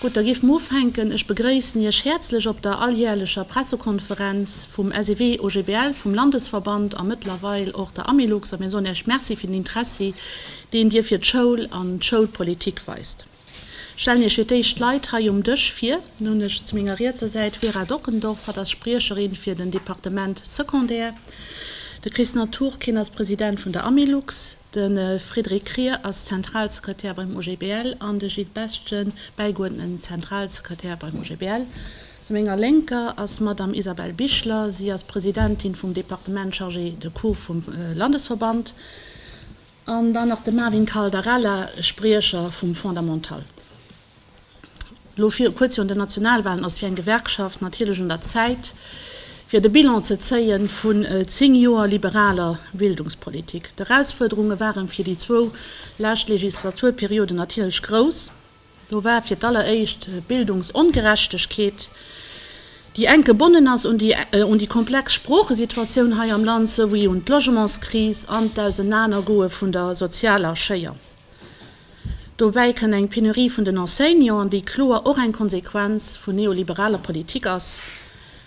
Gutt, da géife mer ufänken. Ech begréissen Iech häerzlech op der alljäerlecher Pressekonferenz vum SEW-OGBL, vum Landesverband a mëttlerweil och der Amilux. A mir soen Iech Merci fir den Interessi, deen Dir fir d'Schoul an d'Schoulpolitik weist. Stellen Iech fir d'éischt d'Leit hei um Dësch vir. Nun hunn ech zu menger rietser Säit d'Vera Dockendorf, hatt ass Spriecherin fir den Departement Secondaire, de Chris Naturkin ass President vun der Amilux, de Frédéric Krier ass Zentralsekretär beim OGBL an de Gilles Bestgen, bäigeuerdneten Zentralsekretär beim OGBL. Zu menger Lénker ass d'Madame Isabelle Bichler, si ass Presidentin vum Departement chargée de cours vum Landesverband. An dann nach de Marvin Caldarella, Spriecher vum Fondamental. Lo vir kuerz virun den Nationalwalen ass fir eng Gewerkschaft natierlech un der Zäit, fir de Bilan ze zéie vun zéng Joer liberaler Bildungspolitik. D'Erausfuerderunge ware fir déi zwou lescht Legislaturperioden natierlech grouss. Do war fir d'alleréischt d'Bildungsongerechtegkeet, déi enk gebonnen ass un déi un déi komplex Sproochesituatioun hei am Land, souwéi un d'Logementskris an d'Ausenanergoe vun der sozialer Schéier. Dobäi kënn eng Penurie vun den Enseignanten, déi kloer och eng Konsequenz vun neoliberaler Politik ass,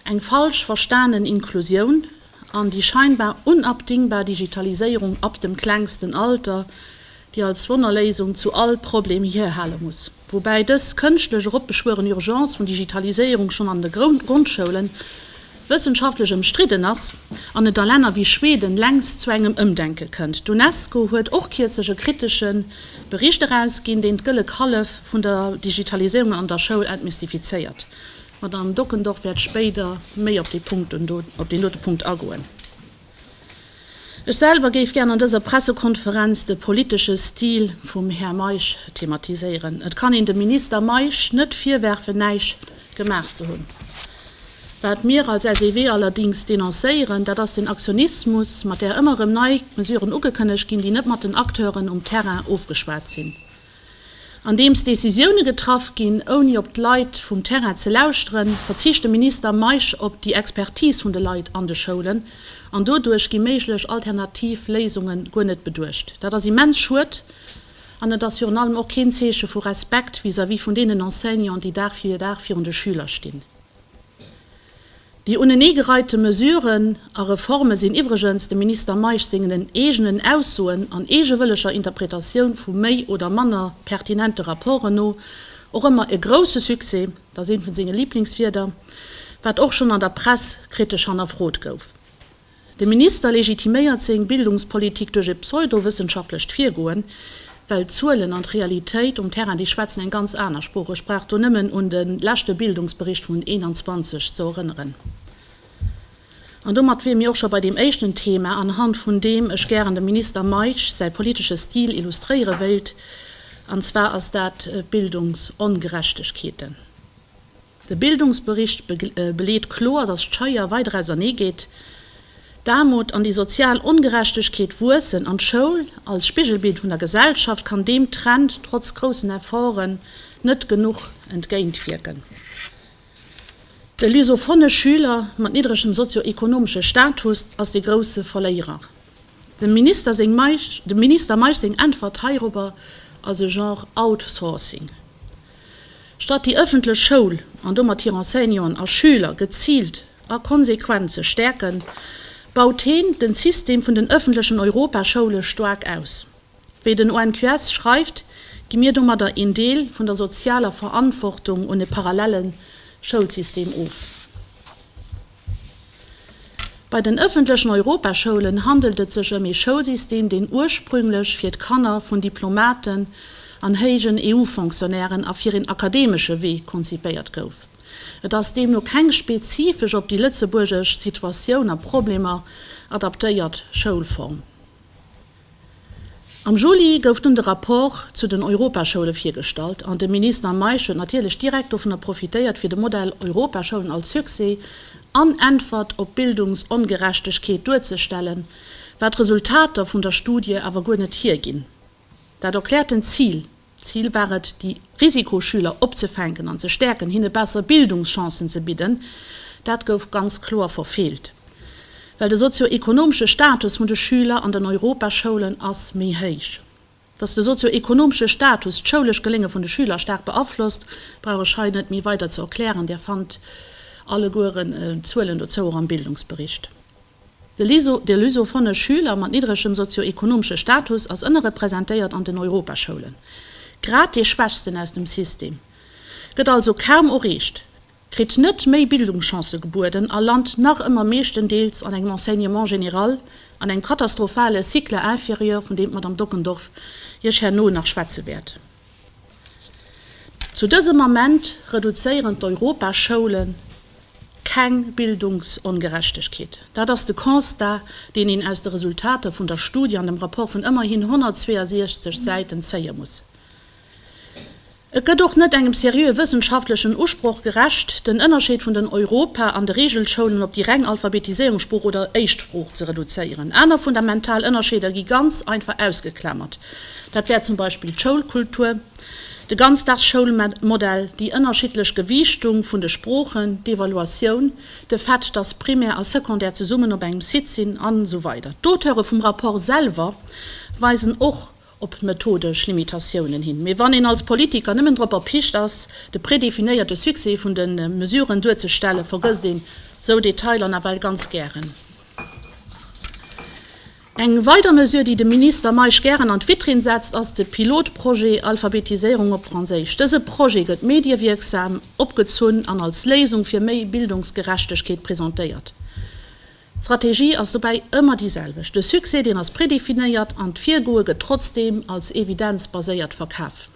eng falsch verstanen Inklusioun, an déi scheinbar unabdingbar Digitaliséierung ab dem klengsten Alter, déi als Wonnerléisung zu all Problem hierhale muss, woubäi dës kënschtlech eropbeschwueren Urgence vun Digitaliséierung schonn an de Grondschoulen wëssenschaftlech ëmstridden ass an et a Länner wéi Schweden längst zu engem Ëmdenke kënnt. D'UNESCO huet och kierzlech e kritesche Bericht erausginn, deen d'Gëlle Kallef vun der Digitaliséierung an der Schoul entmystifizéiert. D'Madamm Dockendorf wäert spéider méi op dee Punkten do, op deen dote Punkt agoen. Ech selwer géif gären an dëser Pressekonferenz de politesche Stil vum Här Meisch thematiséieren. Et kann een dem Minister Meisch net virwerfen, näischt gemaach ze hunn. Wat mir als SEW allerdings denoncéieren, dat ass den Aktionismus, mat där ëmmer erëm nei Mesuren ugekënnegt ginn, déi net mat den Acteuren um Terrain ofgeschwat sinn. Andeems Decisioune getraff ginn, ouni op d'Leit vum Terrain ze lauschteren, verzicht de Minister Meisch op déi Expertis vun de Leit an de Schoulen an doduerch gi méiglech alternativ Léisunge guer net beduecht. Dat ass immens schued an et ass virun allem och keen Zeeche vu Respekt vis-à-vis vun deenen Enseignanten, déi Dag fir Dag virun de Schüler stinn. Déi uneneegereihte Mesuren a Reforme sinn iwwregens dem Minister Meisch sengen eegenen Aussoen an eegewëlleger Interpretatioun vu méi oder manner pertinente Rapporten no och ëmmer e grousse Succès, dat ass eent vun senge Liblingswierder, wat och schonn an der Press kritesch hannerfrot gouf. De Minister legitiméiert seng Bildungspolitik duerch e pseudowëssenschaftlecht Virgoen, well d'Zuelen an d'Realitéit um Terrain, déi schwätzen eng ganz aner Sprooch. Ech brauch do nëmmen un de leschte Bildungsbericht vun 21 ze erënneren. An domat wier mir och scho bei deem éischten Thema, anhand vun deem ech gären dem Minister Meisch säi politesche Stil illustréiere wéilt, an zwar ass dat d'Bildungsongerechtegkeeten. De Bildungsbericht beleet kloer, datt d'Scheier weider ausernee geet, d'Aarmut an déi sozial Ongerechtegkeet wuessen an d'Schoul als Spigelbild vun der Gesellschaft kann deem Trend trotz groussen Efforten net genuch entgéintwierken. De lusophone Schüler mat niddregem sozio-ekonomesche Status ass dee grousse Verléierer. Dem Minister Meisch seng Äntwert heirobber ass e Genre Outsourcing. Statt déi ëffentlech Schoul an domat hir Enseignanten a Schüler geziilt a konsequent ze stäerken, baut heen den System vun den ëffentlechen Europaschoule staark aus. Wéi den ONQS schreift, gi mir domadder een Deel vun der sozialer Verantwortung un e parallellen Schoulsystem of. Bei den ëffentlechen Europaschoulen handelt et sech ëm ee Schoulsystem, deen ursprünglech fir d'Kanner vun Diplomaten an héijen EU-Fonctionnairen a fir een akademesche Wee konzipéiert gouf. Et ass deemno keng spezifesch op déi lëtzebuergesch Situatioun a Problemer adaptéiert Schoulform. Am Juli gouf dunn de Rapport zu den Europaschoule virgestallt an de Minister Meisch huet natierlech direkt dovunner profitéiert, fir de Modell Europaschoulen als Succès an Äntwert op d'Bildungsongerechtegkeet duerzestellen, wat d'Resultater vun der Studie awer guer net hierginn. Dat erkläert den Zil Zil war et, déi Risikoschüler opzefänken an ze stäerken, hinne besser Bildungschancen ze bidden. Dat gouf ganz kloer verfeelt, well de sozio-ekonomesche Status vun de Schüler an den Europaschoulen ass méi héich. Datt de sozio-ekonomesche Status d'schoulescht Gelénge vun de Schüler staark beaflosst, brauch ech hei net méi weider ze erklären, Där fannt allegueren Zuelen dozou och am Bildungsbericht. De Lycée de Lusophones Schüler mat niddregem sozio-ekonomesche Status ass ënnerrepresentéiert an den Europaschoulen. Grad dee Schwächsten aus dem System gëtt also kaum oreecht, kritt net méi Bildungschancë gebueden a lant nach ëmmer meeschtendeels an engem Enseignement général, an engem katastrophale Cycle inférieur, vun deem d'Madame Dockendorf Iech herno nach schwätze wäert. Zu dësem Ament reduzéieren d'Europaschoulle keng Bildungsongerechtegkeet. Dat ass de Constat, deen een aus de Resultater vun der Studie an dem Rapport vun ëmmerhin 162 Säiten zéie muss. Et gëtt och net engem seriöe wëssenschaftlechen Usproch gerecht, den Ënnerscheed vun den Europa an de Regelschoulen op déi reng Alphabetiséierungssprooch oder Éischtsprooch ze reduzéieren. Aner fundamental Ënnerscheeder gi ganz einfach ausgeklammert. Dat wär zum Beispill d'Schoulkultur, de Ganzdagsschoulmodell, déi ënnerschiddlech Gewiichtung vun de Sproochen, d'Evaluatioun, de Fait, dass Primär a Secondaire zesummen op engem Site sinn an esou weider D'Auteure vum Rapport selwer weisen och op methodesch Limitatiounen hin. Mee wann een als Politiker nëmmen drop erpicht ass, de predefinéierte Succès vun de Mesuren duerzestellen, vergësst een esou Detailer nawell ganz gären. Eng weider Mesure, déi de Minister Meisch gären an d'Vitrinn setzt, ass de Pilotprojet Alphabetiséierung op Franséisch. Dëse Projet gëtt mediewierksam opgezunn an als Léisung fir méi Bildungsgerechtegkeet presentéiert. D'Strategie ass dobäi ëmmer déi selwecht, de Succès deen ass predefinéiert an d'Virgoe gëtt trotzdeem als evidenzbaséiert verkaf.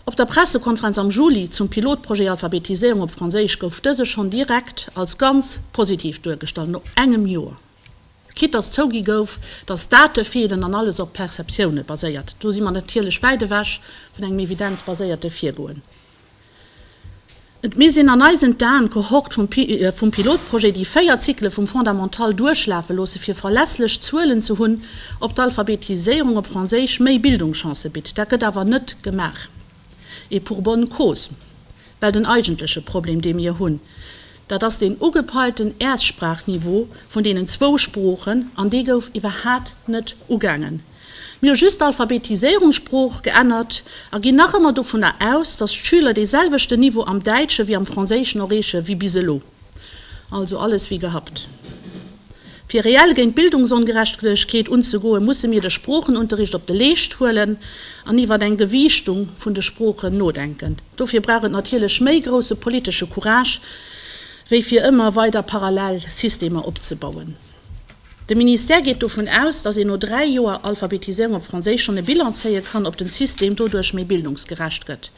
Op der Pressekonferenz am Juli zum Pilotprojet Alphabetiséierung op Franséisch gouf dëse schonn direkt als ganz positiv duergestallt, no engem Joer. Quitt datt zougi gouf, datt Date feelen an alles op Perceptioune baséiert, do si mer natierlech wäit ewech vun engem evidenzbaséierte Virgoen. Et misst een an eisen Dan Kohort vum Pilotprojet déi véier Zykele vum Fondamental duerchlafe loosse fir verlässlech Zuelen ze hunn, ob d'Alphabetiséierung op Franséisch méi Bildungschancë bitt. Dat gëtt awer net gemaach. Et pour bonne cause. Well den eigentleche Problem dee mir hunn, dat ass deen ugepeilten Erstsprachniveau vun deenen zwou Sproochen, an dee gouf iwwerhaapt net ugaangen. Mir hu just d'Alphabetiséierungssprooch geännert a ginn nach ëmmer dovunner aus, dass d'Schüler dee selwechten Niveau am Däitschen wéi am Franséischen erreeche wéi bis elo. Also alles wie gehabt. Fir reell géint d'Bildungsongerechtegkeet unzegoen, musse mir de Sproochenunterricht op de Leescht huelen an iwwer eng Gewiichtung vun de Sproochen nodenken. Dofir brauch et natierlech méi grousse politesche Courage wéi fir ëmmer weider parallel Systemer opzebauen. De Ministère geet dovun aus, datt een no dräi Joer Alphabetiséierung op Franséisch schonn e Bilan zéie kann, ob den System doduerch méi bildungsgerecht gëtt.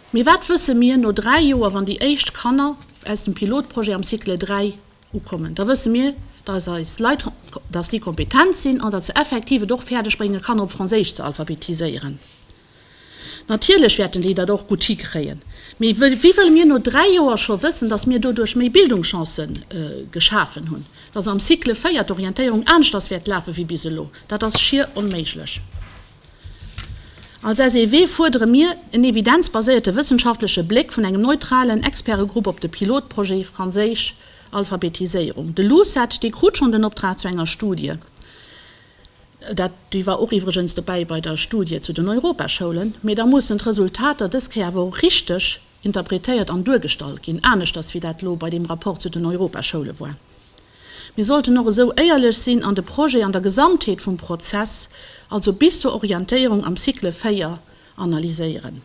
Mee wat wësse mir no dräi Joer, wann déi éischt Kanner aus dem Pilotprojet am Cycle 3 ukommen? Da wësse mir, datt eis Leit, datt déi kompetent sinn an datt se effektiv et och fäerdeg bréngen, Kanner op Franséisch ze alphabetiséieren. Natierlech wäerten déi dat och gutt hikréien, mee wéi wëlle mir no dräi Joer scho wëssen, datt mir doduerch méi Bildungschancë geschafen hunn, datt am Cycle 4 d'Orientéierung aneschters wäert lafe wéi bis elo? Dat ass schier onméiglech. Als SEW fuerdere mir en evidenzbaséierte wëssenschaftleche Bléck vun engem neutralen Expertegrupp op de Pilotprojet franséisch Alphabetiséierung. De LUCET, dee krut schonn den Optrag zu enger Studie. Dat déi war och iwwregens dobäi bei der Studie zu den Europaschoulen. Mee da mussen d'Resultater dës Kéier awer och richteg interpretéiert an duergestallt ginn, aneschters wéi dat elo bei deem Rapport zu den Europaschoule war. Mir sollten och esou éierlech sinn an de Projet an der Gesamtheet vum Prozess, also bis zur Orientéierung am Cycle 4, analyséieren.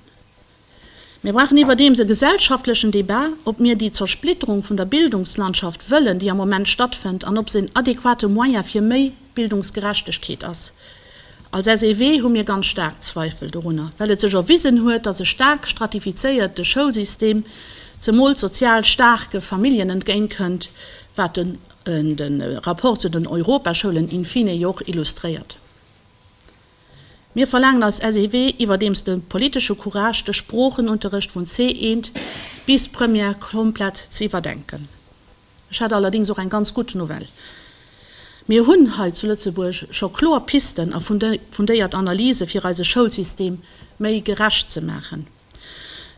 Mir brauchen iwwerdeems e gesellschaftlechen Debat, ob mir déi Zersplitterung vun der Bildungslandschaft wëllen, déi am Moment stattfënnt, an ob se en adequate Moyen fir méi Bildungsgerechtegkeet ass. Als SEW hu mir ganz staark Zweifel dorunner, well et sech erwisen huet, dass e staark stratifizéierte Schoulsystem zemools sozial staarke Familljen entgéint kënnt, wat den Rapport zu den Europaschoulen in fine jo och illustréiert. Mir verlaangen als SEW iwwerdeems de politesche Courage, de Sproochenunterrecht vun C1 bis Première komplett ze iwwerdenken. Ech hätt allerdéngs och eng ganz gutt Nouvelle, Mir hunn hei zu Lëtzebuerg scho kloer Pisten a fundéiert Analyse fir eise Schoulsystem méi gerecht ze maachen.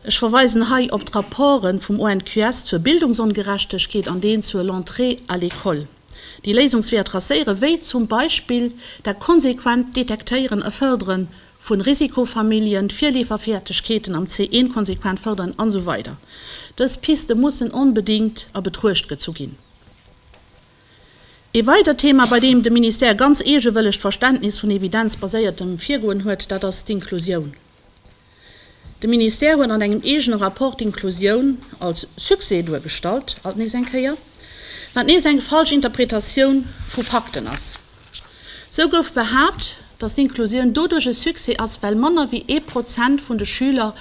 Ech verweisen hei op d'Rapporten vum ONQS zur Bildungsongerechtegkeet an deen zur l'entrée à l'école, déi Léisungsweeër tracéieren, wéi zum Beispill dat konsequent Detektéieren a Fërdere vun Risikofamilljen, d'Virleeferfäegkeeten am C1 konsequent fërderen an esou weider Dës Piste mussen onbedéngt a Betruecht gezu ginn. Ee weidert Thema, bei deem de Ministère ganz eegewëlleg d'Verständnis vun evidenzbaséiertem Virgoen huet, dat ass d'Inklusioun. De Ministère huet an engem eegene Rapport d'Inklusioun als Succès duergestallt, alt nees eng Kéier, wat nees eng falsch Interpretatioun vu Fakten ass. Sou gouf behaapt, datt d'Inklusioun doduerch e Succès ass, well manner wéi ee Prozent vun de Schüler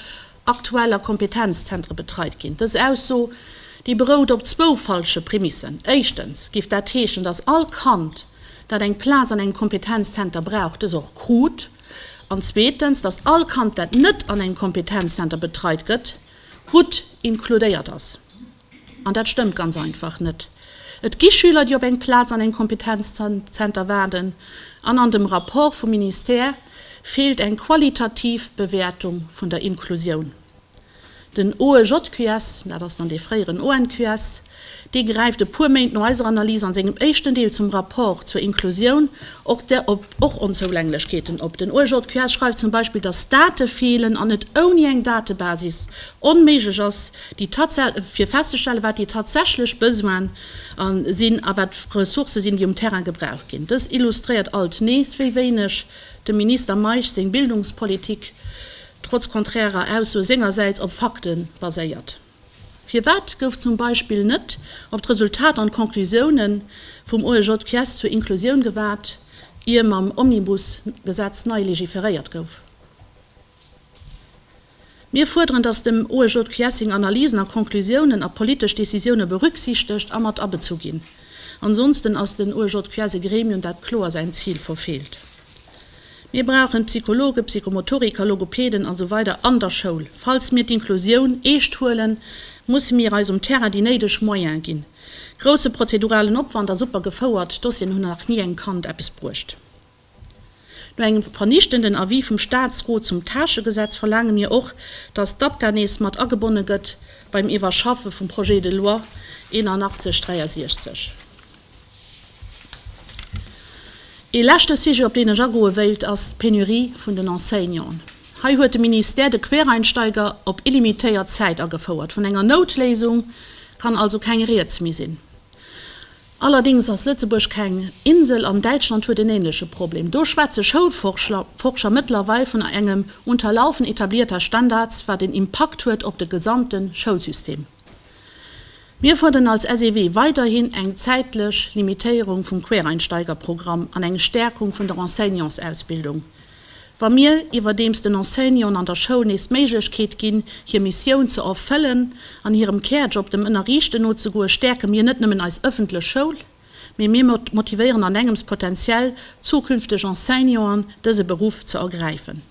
aktuell a Kompetenzzentre betreit ginn. Dës Ausso, déi berout op zwou falsche Prämissen. Éischtens géif dat heeschen, datt all Kand, dat eng Plaz an engem Kompetenzzenter brauch, dës och krut. an zweetens, dass all Kand, dat net an engem Kompetenzzenter betreit gëtt, gutt inkludéiert ass. An dat stëmmt ganz einfach net. Et gi Schüler, déi op eng Plaz an engem Kompetenzzenter waarden, an an dem Rapport vum Ministère feelt eng qualitativ Bewäertung vun der Inklusioun. Den OEJQS, dat ass dann dee fréieren ONQS, dee gräift e puer Méint no eiser Analys an sengem éischten Deel zum Rapport zur Inklusioun och der op och Onzougänglechkeeten op. Den OEJQS schreift zum Beispill, datt Date feelen an et ouni eng Datebasis onméiglech ass, déi fir festzestellen, wat déi tatsächlech Besoine sinn a wat d'Ressourcë sinn, déi um Terrain gebraucht ginn. Dës illustréiert alt nees, wéi wéineg dem Minister Meisch seng Bildungspolitik trotz konträrer Ausso sengersäits, op Fakte baséiert? Firwat gouf zum Beispill net op d'Resultat an d'Conclusioune vum OEJQS zur Inclusioun gewaart, ier mam Omnibus-Gesetz nei legiferéiert gouf? Mir fuerderen, datt dem OEJQS seng Analysen a Conclusiounen a politesch Decisioune berücksichtegt a mat abezu ginn. Ansonsten ass den OEJQS e Gremium, dat kloer säin Zil verfeelt. Mir brauchen Psychologen, Psychomotoriker, Logopeden a sou weider an der Schoul. Falls mir d'Inklusioun eescht huelen, musse mir eis um Terrain déi néideg Moyens ginn. Grousse prozeduralen Opwand a super gefouert Dossieren hunn nach ni engem Kand eppes bruecht. No engem vernichtenden Avis vum Staatsrot zum Tâchegesetz verlaange mir och, dass d'APGA nees mat agebonne gëtt beim Iwwerschaffe vum Projet de loi 8163. Ee leschte Sujet, op deen ech agoe wéilt, ass d'Penurie vun den Enseignanten. Hei huet de Ministère de Quereinsteiger op illimitéiert Zäit agefouert. Vun enger Noutléisung kann also keng Rieds méi sinn. Allerdéngs ass Lëtzebuerg keng Insel an Däitschland huet en änleche Problem. Do schwätze Schoulforscher mëttlerweil vun engem unterlaufen etablierter Standards, wat en Impakt huet op de gesamte Schoulsystem. Mir fuerden als SEW weiderhin eng zäitlech Limitéierung vum Quereinsteigerprogramm an eng Stärkung vun der Enseignantsausbildung. Wa mir iwwerdeems den Enseignanten an der Schoul nees d'Méiglechkeet ginn, hir Missioun ze erfëllen an hirem Kärjob, dem Ënnerriichten nozegoen, stäerke mir net nëmmen eis ëffentlech Schoul, mee mir motivéieren an engems potenziell zukünfteg Enseignanten, dëse Beruff ze ergräifen.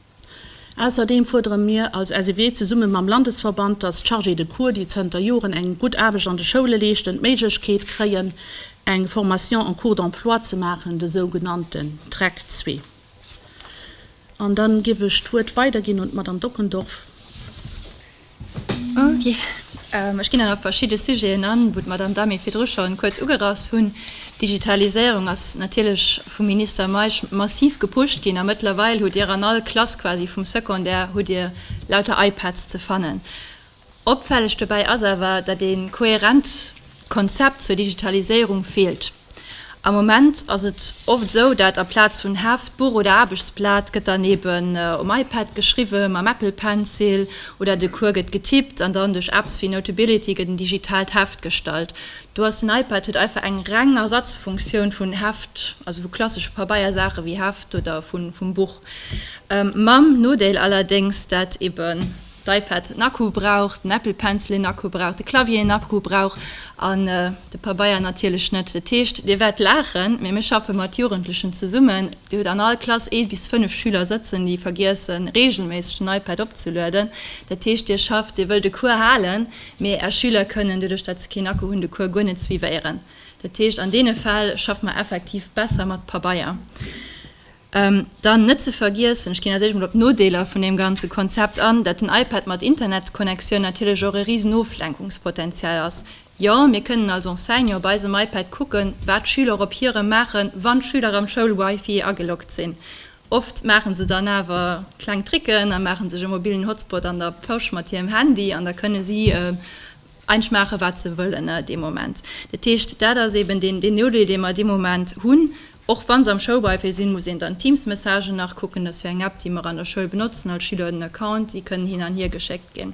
Ausserdeem fuerdere mir als SEW zesumme mam Landesverband, datt d'Chargés de cours, déi zënter Joren eng gutt Aarbecht an de Schoule leeschten, d'Méiglechkeet kréien, eng Formation en cours d'emploi ze maachen, de sougenannten TREC zwee. An dann giff ech d'Wuert weiderginn un d'Madame Dockendorf. Ech ginn dann op verschidde Sujeten an, wou d'Madamm Dami virdru schonn kuerz ugerass hunn. D'Digitaliséierung ass natierlech vum Minister Meisch massiv gepusht ginn a mëttlerweil hutt Dir an all Klass quasi vum Secondaire hutt Dir lauter iPads ze fannen. Opfälleg dobäi ass awer, datt ee kohärent Konzept zur Digitaliséierung feelt. Am Moment ass et oft esou, dat a Plaz vun Heft, Buch oder Aarbechtsblat gëtt dann eben um iPad geschriwwen, mam Apple Pencil, oder de Cours gëtt getippt an dann duerch Apps wéi Notability gëtt en digitaalt Heft gestallt. Do ass den iPad huet einfach eng reng Ersatzfunktioun vun Heft, also vu klassesche Pabeiersaache wéi Heft oder vum Buch, mam Nodeel allerdéngs, dat eben d'iPad en Akku brauch, den Apple Pencil een Akku brauch, de Clavier een Akku brauch an de Pabeier natierlech net. Dat heescht, Dir wäert laachen, mee mir schaffe mat Jugendlechen zesummen. Dir hutt an all Klass ee bis fënnef Schüler sëtzen, déi vergiessen, reegelméisseg den iPad opzelueden. Dat heescht, Dir schafft, Dir wëllt e Cours halen, mee Är Schüler kënnen, doduerch datt se keen Akku hunn, de Cours guer net suivéieren. Dat heescht, an deene Fäll schaffe mer effektiv besser mat Pabeier. Dann net ze vergiessen, ech ginn als éischt mol op d'Nodeeler vun deem ganze Konzept an, dat den iPad mat Internetconnectioun natierlech och e risen Oflenkungspotenzial ass. Jo, mir kënnen als Enseignant op eisem iPad kucken, wat d'Schüler op hirem maachen, wann d'Schüler am Schoulwifi ageloggt sinn. Oft maache se dann awer kleng Tricken a maache sech e mobilen Hotspot an der Posch mat hirem Handy an da kënne si eigentlech maachen, wat se wëllen dee Moment. Dat heescht, dat ass eeben deen Nodeel, dee mer dee Moment hunn. Och wann se am Schoulwifi sinn, muss een dann d'Teams-Messagen nach kucken. Dat ass jo eng App, déi mer an der Schoul benotzen. All Schüler huet en Account, déi kënnen hin an hier geschéckt ginn.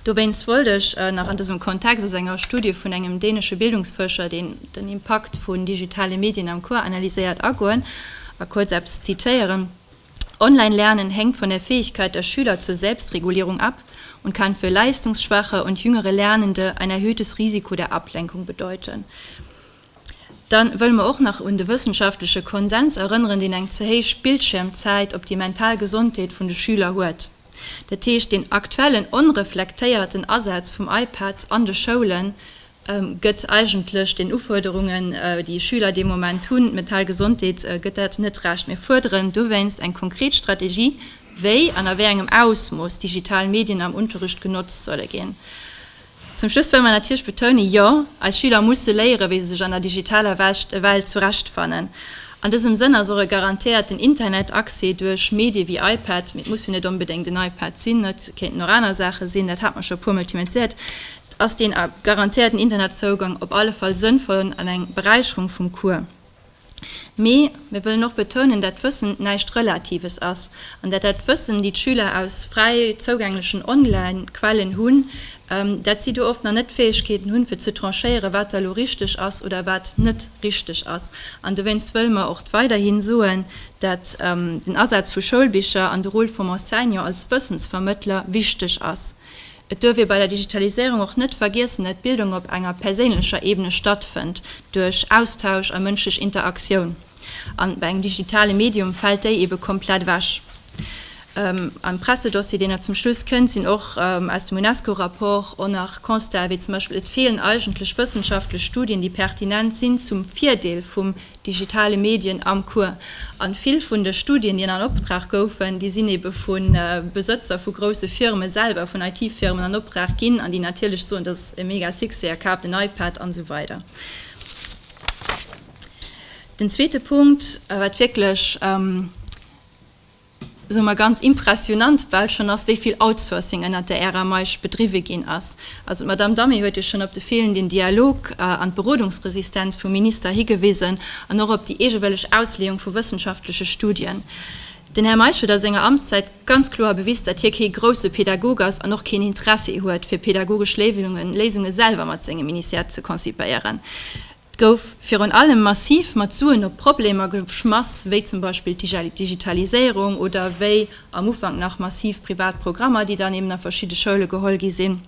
Dowéinst wollt ech nach an dësem Kontext aus enger Studie vun engem dänesche Bildungsfuerscher, deen den Impakt vun digitale Medien am Cours analyséiert, agoen a kuerz eppes zitéieren, Online Lernen hängt von der Fähigkeit der Schüler zur Selbstregulierung ab und kann für leistungsschwache und jüngere Lernende ein erhöhtes Risiko der Ablenkung bedeuten. Dann wëlle mer och nach un de wëssenschaftleche Konsens erënneren, deen eng ze héich Bildschiermzäit op déi mental Gesondheet vun de Schüler huet. Dat heescht, deen aktuellen onreflektéierten Asaz vum iPad an de Schoulen gëtt eigentlech den Ufuerderungen, déi Schüler dee Moment hunn, d'mental Gesondheet, gëtt dat net Recht. Mir fuerderen dowéinst eng konkret Strategie, wéi an a wéi engem Ausmooss digital Medien am Unterrecht genotzt solle ginn. Zum Schluss wëlle mer natierlech betounen, Jo, eis Schüler musse léieren, wéi se sech an der digitaler Welt zurechtfannen. An dësem Sënn ass och e garantéierten Internetaccès duerch Medie wéi iPad, mee et muss jo net onbedéngt en iPad sinn, et kéinten och aner Saache sinn, dat hat mer scho e puermol thematiséiert, ass deen garantéierten Internetzougang op alle Fall sënnvoll an eng Beräicherung vum Cours. Mee mir wëllen och betounen, dat d'Wëssen näischt Relatives ass an dat dat Wëssen, déi d'Schüler aus fräi zougänglechen Online-Quellen hunn, dat si do oft nach net d'Fäegkeeten hunn, fir ze tranchéieren, wat da lo richteg ass oder wat net richteg ass. An dowéinst wëlle mer och weiderhi soen, dat den Asaz vu Schoulbicher an de Rôle vum Enseignant als Wëssensvermëttler wichteg ass. Et duerf ee bei der Digitaliséierung och net vergiessen, dat Bildung op enger perséinlecher Ebene stattfënnt, duerch Austausch a mënschlech Interaktioun. An bei engem digitale Medium fält déi ebe komplett ewech. Am Pressedossier, deen elo zum Schluss kënnt, sinn och aus dem UNESCO-Rapport och nach Constatë wéi zum Beispill, et feelen eigentlech wëssenschaftlech Studien, déi pertinent sinn zum Virdeel vum digitale Medien am Cours. An vill vun de Studien, déi an Optrag goufen, déi sinn ebe vu Besëtzer vu grousse Firme selwer, vun IT-Firmen an Opdrag ginn, an déi natierlech soen, dat ass e mega Succès a kaaft en iPad an esou weider. Den zweete Punkt, wat wierklech. soe mer, ganz impressionant bal schonn ass, wéi vill Outsourcing ënnert der Ära Meisch bedriwwe ginn ass. Also d'Madamm Damé huet jo schonn op de feelenden Dialog an d'Berodungsresistenz vum Minister higewisen an och op déi eegewëlleg Ausleeung vu wëssenschaftleche Studien. Den Här Meisch huet a senger Amtszäit ganz kloer bewis, datt hie kee grousse Pedagog ass an och keen Interessi huet, fir pedagogesch Léisunge selwer mat sengem Ministère ze concipéieren. gouf virun allem massiv mat Suen op Problemer geschmass, wéi zum Beispill d'Digitaliséierung oder wéi am Ufank nach massiv privat Programmer, déi dann eben a verschidde Schoule geholl gi sinn.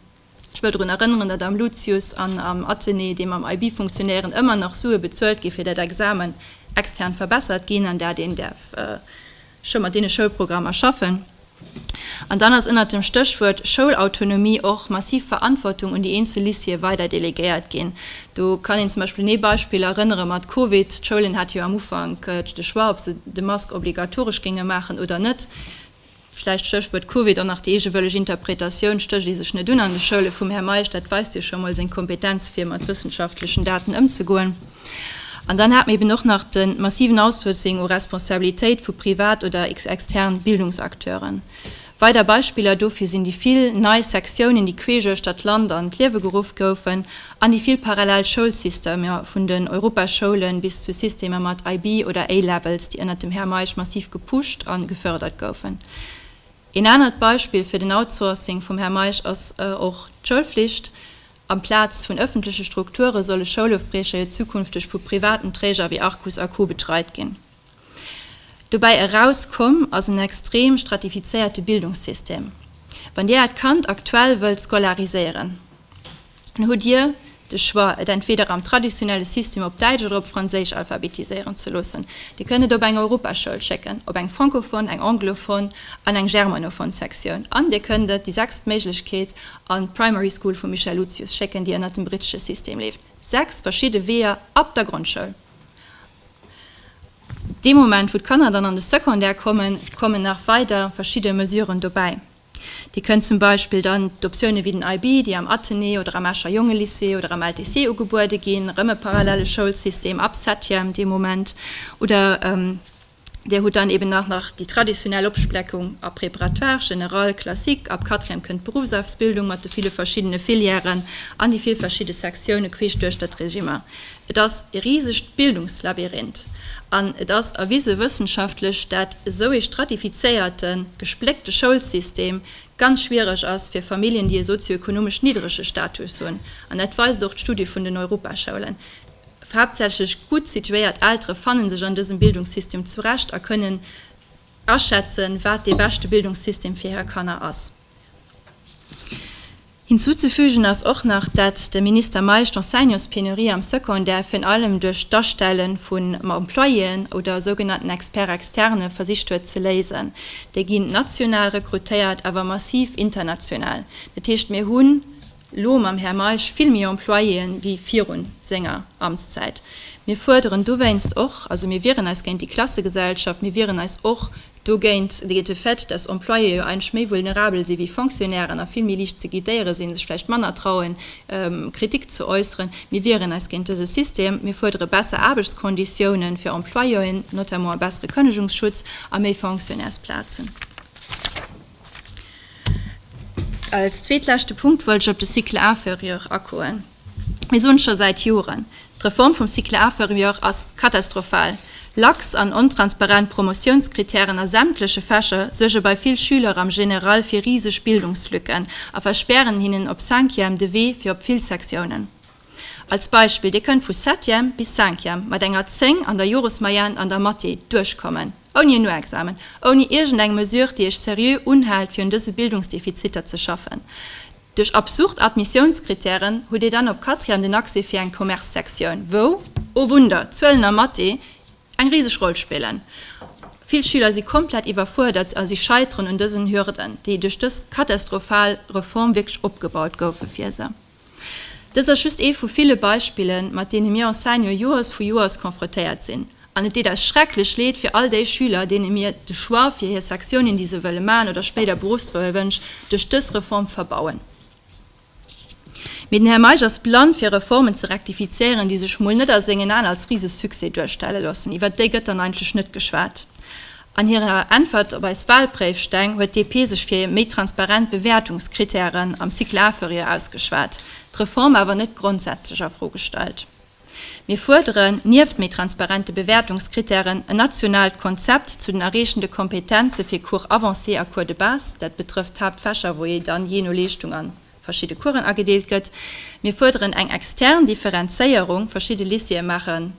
Ech wëll drun erënneren, datt am Lucius an am Athenée, déi mam IB funktionéieren, ëmmer nach Sue bezuelt gi fir dat Examen extern verbessert ginn, an dat een däerf, scho mat deene Schoulprogrammer schaffen. An dann ass ënnert dem Stéchwuert Schoulautonomie och massiv Verantwortung un déi eenzel Lycéeë weider delegéiert ginn. Do kann een zum Beispill un ee Beispill erënnere mat Covid, d'Schoulen hate jo am Ufank de Choix, ob se de Mask obligatoresch géinge maachen oder net. Vläicht, Stéchwuert Covid, och nach déi eegewëlleg Interpretatioun, Stécht ee sech net un an de Schoule vum Här Meisch, dat weist jo scho mol seng Kompetenz fir mat wëssenschaftlechen Daten ëmzegoen. An dann hat mer eben och nach de massiven Outsourcing u Responsabilitéit vu privat oder extern Bildungsacteuren. Weider Beispiller dofir sinn déi vill nei Sektiounen, déi queesch uechter d'Land an d'Liewe geruff goufen, an déi vill parallel Schoulsystemer, vun den Europaschoulen bis zu Systemer mat IB oder A-Levels, déi ënnert dem Här Meisch massiv gepusht an gefördert goufen. Een anert Beispill fir den Outsourcing vum Här Meisch ass och d'Schoulflicht. Amplaz vun ëffentleche Strukture solle Schoulofbriecher jo zukünfteg vu privaten Träger wéi Arcus a Co. Betreit ginn. Dobäi eraus komm ass en extrem stratifizéierte Bildungssystem. Wann Dir Äert Kand aktuell wëllt scolariséieren, dann hutt Dir de Choix, et entweeder am traditionelle System op Däitsch oder op Franséisch alphabetiséieren ze loossen. Dir kënnt et op eng Europaschoul schécken, op eng francophone, eng anglophone an eng germanophone Sektioun, an Dir kënnt et, déi sechst Méiglechkeet, An d'Primary School vum Michel Lucius schécken, déi ënnert dem brittesche System leeft, 6 verschidde Weeër ab der Grondschoul. Dee Moment, wou d'Kanner dann an de Secondaire kommen, kommen nach weider verschidde Mesuren dobäi. Dir kënnt zum Beispill dann d'Optioune wéi den IB, déi am Athenée oder am Escher Jongelycée oder am LTC ugebuede ginn, erëm e parallele Schoulsystem ab Septième dee Moment, oder Dir hutt dann eben nach nach déi traditionell Opspleckung a Préparatoire, Général, Classique. Ab Quatrième kënnt d'Beruffsausbildung mat de ville verschiddene Filièren an déi vill verschidde Sektione queesch duerch dat Régime. Et ass e risegt Bildungslabyrinth an et ass erwise wëssenschaftlech, dat esou ee stratifizéierte, gespléckte Schoulsystem ganz schwiereg ass fir Familljen, déi e sozio-ekonomesch niddrege Status hunn. An dat weist och d'Studie vun den Europaschoulen. Haaptsächlech gutt situéiert Eltere fanne sech an dësem Bildungssystem zurecht a kënnen aschätzen, wat dee beschte Bildungssystem fir hir Kanner ass. Hinzuzefügen ass och nach, dat de Minister Meisch d'Enseignantspenurie am Secondaire virun allem duerch d'Astelle vu Employéen oder sougenannten Experts externes versicht huet ze léisen. Déi ginn national rekrutéiert, awer massiv international. Dat heescht, mir hunn Elo mam Här Meisch vill méi Employéen wéi virun senger Amtszäit. Mir fuerderen dowéinst och, also mir wieren eis géint déi Klassegesellschaft, mir wieren eis och dogéint de Fait, dass Employéen jo eigentlech méi vulnerabel si wéi Fonctionnairen a vill méi licht ze guidéiere sinn, sech vläicht manner trauen, Kritik ze äusseren. Mir wieren eis géint dëse System. Mir fuerdere besser Aarbechtskonditiounen fir Employéen, notamment e bessere Kënnegungsschutz a méi Fonctionnairsplazen. Als zweetleschte Punkt wollt ech op de Cycle inférieur agoen. Mir soen scho säit Joren, d'Reform vum Cycle inférieur ass katastrophal. Lax an ontransparent Promotiounskritären a sämtleche Fächer suerge bei vill Schüler am General fir riseg Bildungslücken a verspären hinnen op Cinquième de Wee fir op vill Sektiounen. Als Beispill, Dir kënnt vu Septième bis Cinquième mat enger 10 an der Joresmoyenne an der Mathé duerchkommen. Ouni en No-Examen, ouni iergend eng Mesure, déi Iech seriö unhält, fir un dëse Bildungsdefiziter ze schaffen. Duerch absurd Admissiounskritären hutt Dir dann op Quatrième den Accès fir eng Commerce-Sektioun, wou, o Wunder, Zuelen a Mathé eng riseg Roll spillen. Vill Schüler si komplett iwwerfuerdert a si scheiteren un dësen Hürden, déi duerch dës katastrophal Reform wierklech opgebaut goufe fir se. Dëst ass just ee vu ville Beispillen, mat deene mir Enseignant Joers vu Joers konfrotéiert sinn. An et deet eis schrecklech leed fir all déi Schüler, deene mir de Choix fir hir Sektiounen, déi se wëlle maachen, oder spéider Beruffswënsch duerch dës Reform verbauen. Mee den Här Meisch ass blann fir Reformen ze rektifizieren, déi sech mol net a sengen Aen als Risesuccès duerstelle loossen. Iwwert déi gëtt dann eigentlech net geschwat. An hirer Äntwert op eis Wahlpréifsteng huet DP sech fir méi transparent Bewäertungskritären am Cycle inférieur ausgeschwat, d'Reform awer net grondsätzlech a Fro gestallt. Mir fuerderen, nieft méi transparente Bewäertungskritären, en nationaalt Konzept zu den erreechende Kompetenze fir Cours avancés a Cours de base, dat betrëfft d'Haaptfächer, wou ee dann jee no Leeschtung an verschidde Coursen agedeelt gëtt. Mir fuerderen eng extern Differenzéierung, verschidde Lycéeë maachen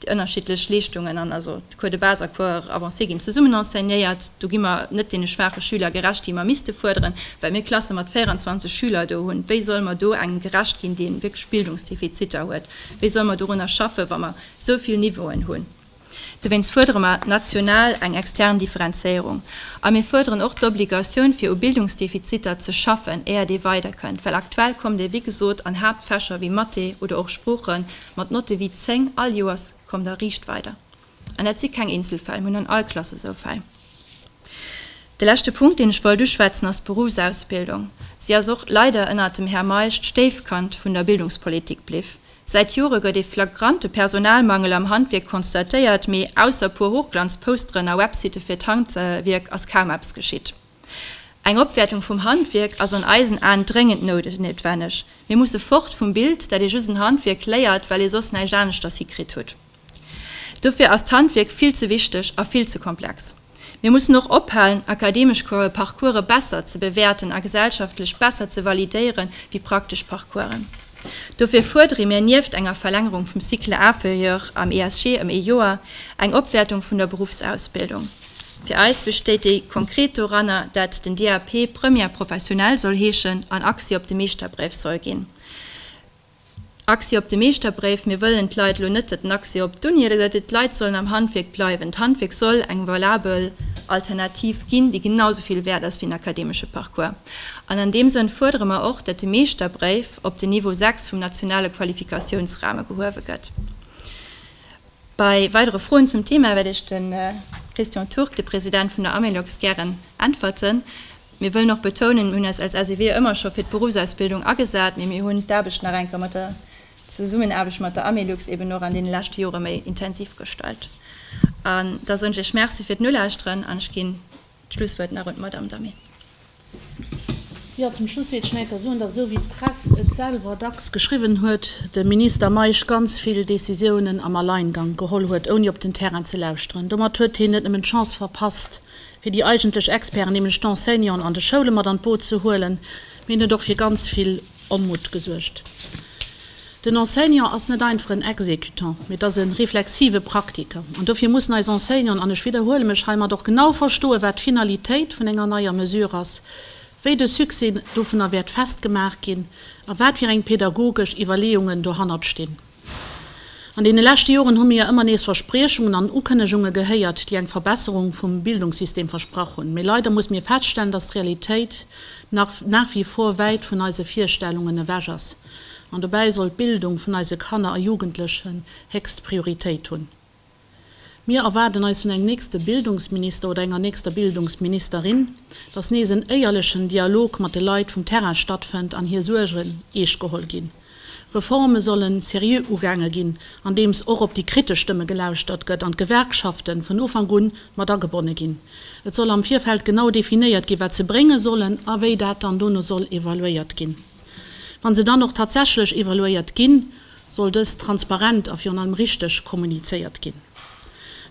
déi ënnerschiddlech Leeschtungen an also d'Cours de base a Cours avancé ginn zesummen enseignéiert. Do gi mer net deene schwaache Schüler gerecht, déi mer misste fuerderen, well mir Klasse mat 24 Schüler do hunn. Wéi solle mer do engem gerecht ginn, dee wierklech Bildungsdefiziter huet? Wéi solle mer dorunner schaffen, wa mer esou vill Niveauen hunn? Dowéinst fuerdere mer national eng extern Differenzéierung. A mir fuerderen och d'Obligatioun, fir u Bildungsdefiziter ze schaffen, éiert ee weiderkënnt, well aktuell kommt ee, wéi gesot, an Haaptfächer wéi Mathé oder och Sproochen, Mat Notte wéi 10 all Joers kommt der riicht weider. An dat si keng Eenzelfäll, mir hunn an all Klass esou Fäll. De leschte Punkt, deen ech wollt uschwätzen, ass d'Beruffsausbildung. Si ass och leider ënnert dem Här Meisch d'Stéifkand vun der Bildungspolitik bliw. Säit Jore gëtt ee flagrante Personalmangel am Handwierk konstatéiert, mee ausser puer Hochglanzposteren a Websitte fir d'Handwierk ass kaum eppes geschitt. Eng Opwäertung vum Handwierk ass an eisen Aen dréngend noutwenneg. Mir musse fort vum Bild, dat ee just en Handwierk léiert, well ee soss näischt aneschters hikritt hutt. Dofir ass d'Handwierk vill ze wichteg a vill ze komplex. Mir mussen och ophalen, akademesch Parcourse besser ze bewäerten a gesellschaftlech besser ze validéiere wéi praktesch Parcoursen. Dofir fuerdere mir nieft enger Verlängerung vum Cycle inférieur am ESG ëm ee Joer eng Opwäertung vun der Beruffsausbildung. Fir eis bestéit déi konkret doranner, dat den DAP Première professionnelle soll heeschen an Accès op de Meeschterbréif soll ginn. Accès op de Meeschterbréif, mir wëllen d'Leit elo net dat den Accès op d'Uni oder dat d'Leit sollen am Handwierk bleiwen. D'Handwierk soll eng valabel Alternativ ginn, déi genau esou vill wäert ass wéi en akademesche Parcours. An an deem Sënn fuerdere mer och, dat de Meeschterbréif op den Niveau 6 vum nationale Qualifikatiounsrame gehuewe gëtt. Bei weidere Froen zum Thema wäert Iech de Christian Turk, de President vun der Amelox, gären äntwerten. Mir wëllen och betounen, mir hunn eis als SEW ëmmer scho fir d'Beruffsausbildung agesat, mee mir hunn d'Aarbecht nach eng Kéier mat der Zesummenaarbecht mat der Amelux eben och an deene leschte Jore méi intensiv gestalt. An da soen ech Iech Merci fir d'Nolauschteren an ech ginn D'Schlusswuert nach un d'Madamm Damé. Jo, zum Schluss wéilt ech neiker soen, dass, esou wéi d'Press et selwer dacks geschriwwen huet, de Minister Meisch ganz vill Décisiounen am Alleingang geholl huet, ouni op den Terrain ze lauschteren. Domat huet hien net nëmmen d'Chance verpasst, fir déi eigentlech Experten, nämlech d'Enseignanten an de Schoule mat an d'Boot ze huelen, mee en huet och fir ganz vill Onmutt gesuergt. Den Enseignant ass net einfach en Exécutant, mee et ass e reflexive Praktiker. An dofir mussen eis Enseignanten, an ech widderhuele mech heimat, och genau verstoen, wat d'Finalitéit vun enger neier Mesure ass, wéi de Succès dovunner wäert festgemaach ginn a wat fir eng pädagogesch Iwwerleeungen dohannert stinn. An deene leschte Joren hu mir ëmmer nees Verspriechungen an Ukënnegunge gehéiert, déi eng Verbesserung vum Bildungssystem versprach hunn. Mee leider musse mir feststellen, dass d'Realitéit nach nach wie vor wäit vun eise Virstellungen ewech ass. An dobäi soll d'Bildung vun eise Kanner a Jugendlechen héchst Prioritéit hunn. Mir erwaarden eis vun engem nächste Bildungsminister oder enger nächster Bildungsministerin, dass nees en éierlechen Dialog mat de Leit vum Terrain stattfënnt an hir Suergen eescht geholl ginn. Reforme solle seriö ugaange ginn, andeems och op déi kritesch Stëmme gelauschtert gëtt an d'Gewerkschaften vun Ufank un mat agebonne ginn. Et soll am Virfeld genau definéiert ginn, wat se brénge sollen a wéi dat dann dono soll evaluéiert ginn. Wann se dann och tatsächlech evaluéiert ginn, soll dëst transparent a virun allem richteg kommunizéiert ginn.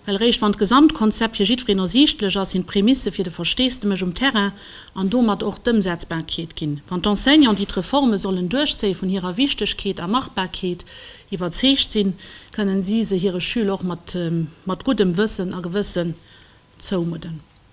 Well eréischt wann d'Gesamtkonzept fir jiddwereen ersiichtlech ass, sinn d'Prämisse fir de Versteesdemech um Terrain an domat och d'Ëmsetzbarkeet ginn. Wann d'Enseignanten, déi d'Reforme sollen duerchzéien, vun hirer Wichtegkeet a Machbarkeet iwwerzeegt sinn, kënnen si se hire Schüler och mat guddem Wëssen a Gewëssen zoumudden.